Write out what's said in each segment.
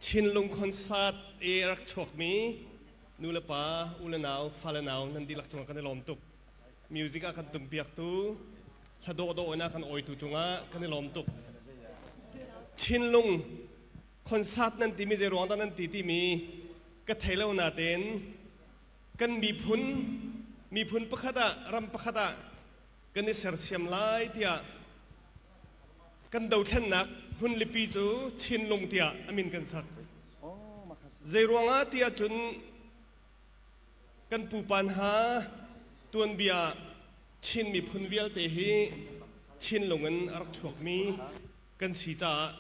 Chinlung concert i rak chuakmi nulepa, ulenau, fale nau nan dihlak cungah kan i lawm tuk. Music ah kan tumpiaktu, hla dawhdawh in a kan awitu cungah kan i lawm tuk. Chinlung concert nan timi zei ruang dah nan ti timi ka thei lo natein kan miphun miphun pakhat ah ram pakhat ah kan i sersiam lai tiah Kan dothlennak hmunlipi cu Chinlung tiah a min kan sak. Zeiruangah tiah cun kan pupa hna tuanbia Chin miphun vialte hi Chinlung in a rak chuakmi kan si caah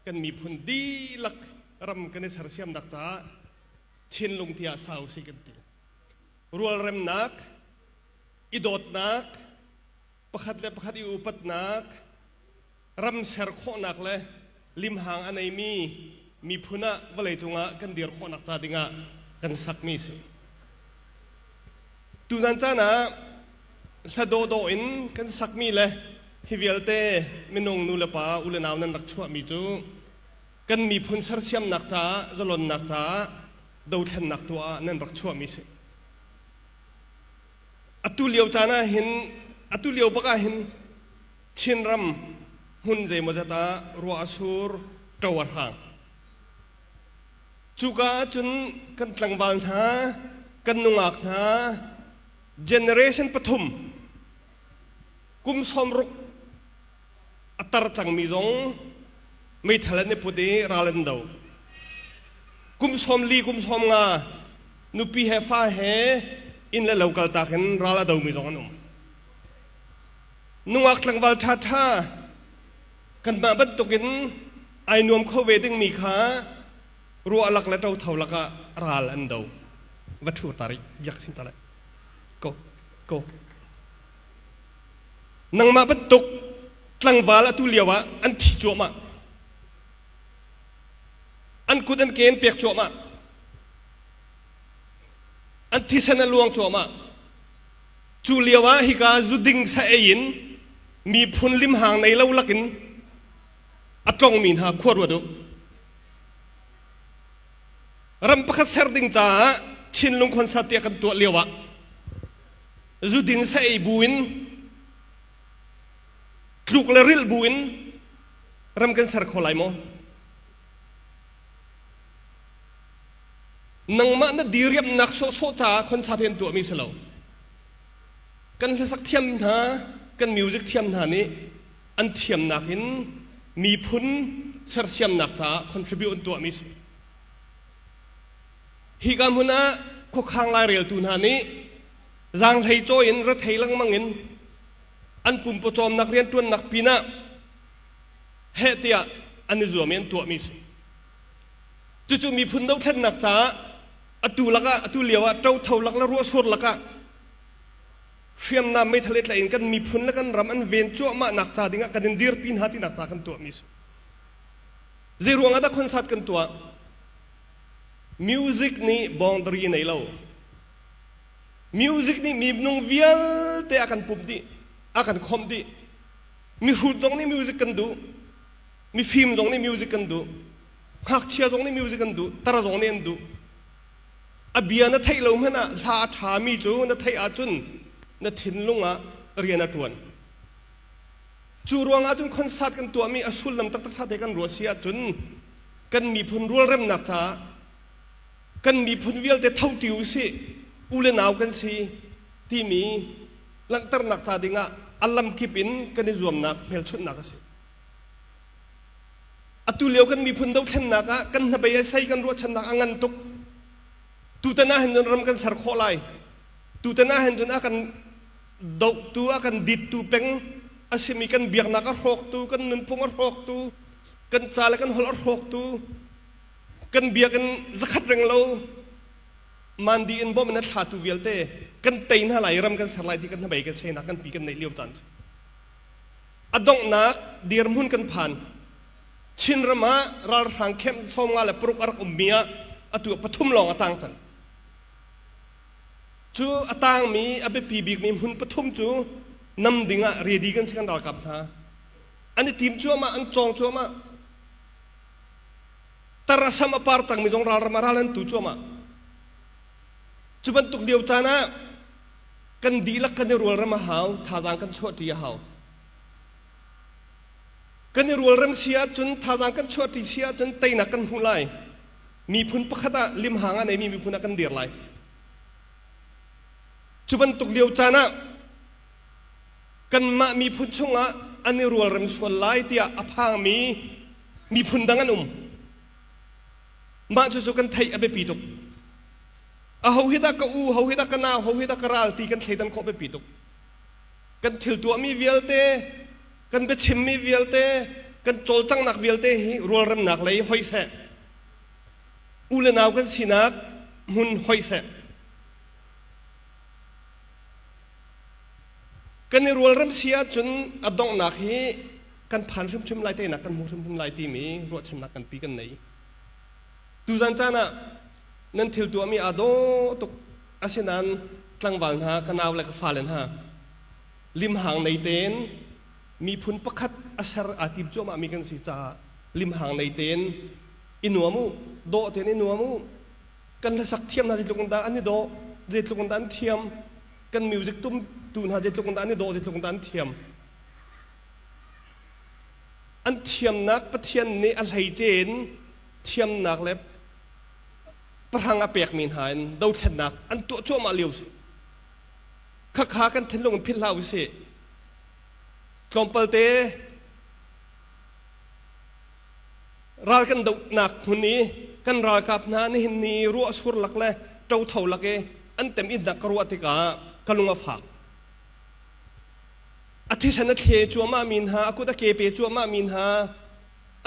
kan miphun dihlak ram kan i sersiamnak caah Chinlung tiah sa usih kan ti. Rualremnak, i dawtnak, pakhat le pakhat i upatnak, ram ser khawhnak le limhang a neimi miphun ah vawleicung ah kan dir khawhnak ca dingah kan sakmi a si. Tuzan caan ah hladawdaw in kan sakmi le hi vialte minung nu le pa u le nau nan rak chuahmi cu kan miphun sersiamnak caah zalonnak caah dothlennak tuah ah nan rak chuahmi a si. atu lio caan ah hin atu lio bak ah hin Chinram hmun zeimawzat ah ruah a sur ṭo a hrang cuka ah cun kan tlangval hna kan nungak hna generation pathum kum sawm ruk a tar cangmi zong meithal an i put i ral an do. Kum sawm li kum sawm nga nupi he fa he inn le lo kaltak in ral a domi zong an um. Nungak tlangval ṭhaṭha kanmah bantukin ai nuam kho ve dingmi kha ruahlak le ṭotho lakah ral an do. Va ṭhur ta rih, biak sim ta lai. Go, go. Nangmah bantuk tlangval atu lio ah an thi cuahmah. An kut an ke an pek cuahmah. An thisen a luang cuahmah. Cu lio ah hika zuding sa ei in miphun limhang nei lo lak in a tlongmi hna khua ruat u. Ram pakhat ser ding caah Chinlung khonsat tiah kan tuah lio ah zuding sei buin tluk le ril buin ram kan ser kho lai maw nangmah na diriamnak sawhsawh caah khonsa tein tuahmi si lo kan hlasak thiam hna kan music thiam hna nih an thiamnak in miphun sersiamnak caah contribute an tuahmi si Hika hmun ah khuakhang laireltu hna nih zaanghleicawi in rethei lengmang in an pum pawcawmnak rianṭuannak pinah heh tiah an i zuam i an tuahmi a si. Cucu miphun dothlennak caah atu lakah atu lio ah ṭotho lak le ruahsur lakah hriamnam meithal i tlaih in kan miphun le kan ram an ven cuahmahnak ca dingah kan in dirpi hna tinak ca kan tuahmi a si. Zeiruang ah dah concert kan tuah? Music nih boundary nei lo. Music nih mibnung vialte a kan pumh dih, a kan khawmh dih. Mihrut zong nih music kan duh. Mifim zong nih music kan duh. Ngakchia zong nih music an duh. Tar zong nih an duh. A bia na theih lo hmanh ah hla a ṭhami cu na theih ahcun na thinlung ah rian a ṭuan. Cu ruang ahcun concert kan tuahmi a sullam taktak ṭha te kan ruah si ahcun kan miphun rualremnak caah kan miphun vialte thotti usih, u le nau kan si timi langhternak ca ding ah a lamkip in kan i zuamnak hmelchunhnak a si. Atu lio kan miphun dothlennak ah kan hnabei ah sei kan ruahchannak a ngan tuk. Tutan ah hin cun ram kan ser khawh lai. Tutan ah hin cun a kan dohtu a kan dittu peng a simi kan biaknak a hrawktu kan nunphung a hrawktu kan ca le kan holh a hrawktu kan biakinn zakhat reng lo mandi in bom in a thlatu vialte kan tei hna lai ram kan ser lai ti kan hnabei kan cheinak kan pi kan neih lio caan cu a donghnak dirhmun kan phan chin ram ah ralhrang camp sawm nga le paruk a rak ummi ah atu pathum lawng a tang cang Cu a tangmi a biapi bikmi hmun pathum cu nam ding ah ready kan si kan ralkap hna. An i tim cuahmah, an cawng cuahmah. Tara sam a par cangmi zong ralram ah ral an tu cuahmah. Cu bantuk lio caan ah kan dihlak kan i rualrem a hau, thazaang kan chuahṭi a hau. Kan i rualrem si ahcun, thazaang kan chuahṭi si ahcun teinak kan hmuh lai. miphun pakhat ah limhang a neimi miphun ah kan dir lai cu bantuk lio caan ah kanmah miphun chungah an i rualrem sual lai tiah a phangmi miphun dang an um mah cucu kan theih a biapi tuk a ho hi dah ka u ho hi dah ka nau ho hi dah ka ral ti kan thleidan khawh biapi tuk kan thil tuahmi vialte kan biachimmi vialte, kan cawlcanghnak vialte hi rualremnak lei hoi seh, u le nau kan sinak hmun hoi seh. Kan i rualrem si ahcun a donghnak hi kan phan hrimhrim lai teinak kan hmu hrimhrim lai timi ruahchannak kan pi kan nei. Tuzan caan ah nan thil tuahmi aa daw tuk. Asinain tlangval hna ka nau le ka fale hna limhang nei tein miphun pakhat a ser aa tim cuahmahmi kan si caah limhang nei tein i nuam u dawh tein i nuam u kan hlasak thiam hna zeitluk in dah an i dawh zeitluk in dah an thiam kan music tumtu hna zeitluk in dah an i dawh zeitluk in dah an thiam an thiamnak pathian nih a hleice in thiamnak le parang a pekmi hna in dothlennak an tuah cuahmah lio si khakha kan thinlung in philh hlah u sih tlawmpal te ral kan dohnak hmun i kan ralkap hna nihin ni ruah sur lak le ṭo tho lak i an tem itnak ka ruah tikah ka lung a fak a thisen a thle cuahmah mi hna a kut a ke pe cuahmah mi hna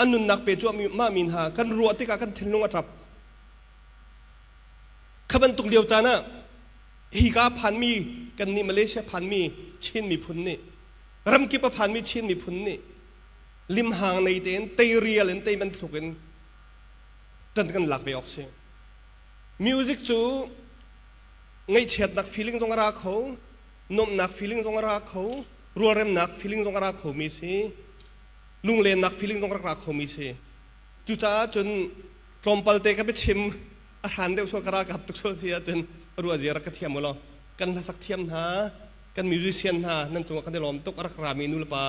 a nunnak pe cuahmah mi hna kan ruah tikah kan thinlung a ṭap kha bantuk lio caan ah hi ka phanmi kannih Malaysia phanmi Chin miphun nih ramkip a phanmi Chin miphun nih limhang nei tein teirial in tei bantuk in kan kan lak ve awk si music cu ngaihchiatnak feeling zong a ra kho nuamhnak feeling zong a ra kho rualremnak feeling zong a ra kho mi si lunglennak feeling zong a ra kho mi si cucaah cun tlawmpalte ka biachim a hran deuh sual ka ralkap tuk sual si ahcun ruah zia rak ka thiam ulaw kan hlasak thiam hna kan musician hna nan cungah kan i lawm tuk a rak rami nulepa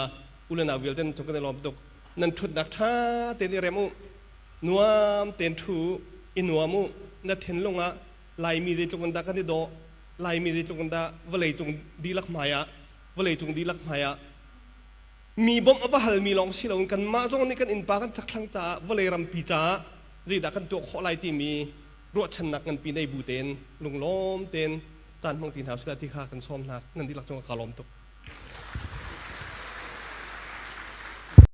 ulenau vialte nan cung kan i lawm tuk nan ṭhutnak ṭha tein i rem u nuam tein ṭhu u i nuam u na thinlung ah laimi zeitluk in dah kan i dawh laimi zeitluk in dah vawlei cung dihlak hmai ah vawlei cung dihlak hmai ah mi bawmh a va halmi lawng si loin kanmah zong nih kan innpa kan thlakthlang caah vawlei rampi caah zeidah kan tuah khawh lai timi ruahchannak nganpi nei bu tein lunglawm tein caan hmang ti hna usih ti kha kan sawm hna nan dihlak cungah kaa lawm tuk